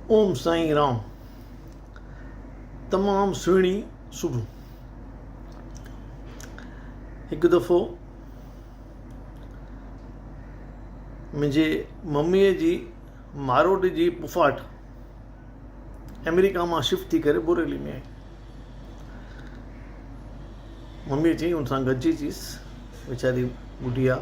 اوم سائين رام تمام سهڻي سوڀو هڪ دفعو منهنجي مميء جي ماروٽ جي پڦاٽ آمريڪا مان شفٽ ٿي ڪري بوريلي ۾ آئي مميء چيائين ان سان گڏجي چيس ويچاري ٻڍي آ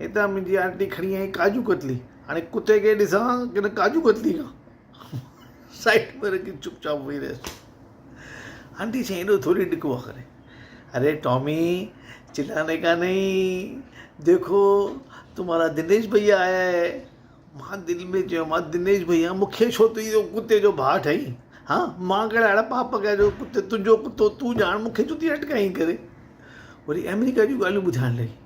هتان منهنجي آنٽي کڻي آئي ڪاجو ڪتلي هاڻي ڪتي کي ڏسان ڪن ڪاجو ڪتلي کان سائيڊ ۾ رکي چپ چاپ ويهي رهيس آنٽي چيائين ايڏو ٿوري ڊڪ هئا ڪري اري ٽامي چلانے کا نهين ديکو تمهارا دنيش ڀئيا آيا هي مان دل ۾ چيو مان دنيش ڀئيا مونکي ڇو تون اهو ڪتي جو ڀاء ٺاهين ها مان ڪهڙا اهڙا پاپ ڪيا جو ڪتي تنهنجو ڪتو تون ڄاڻ مونکي ڇو ٿي اٽڪائين ڪري وري آمريڪا جون ڳالهيون ٻڌائڻ لڳي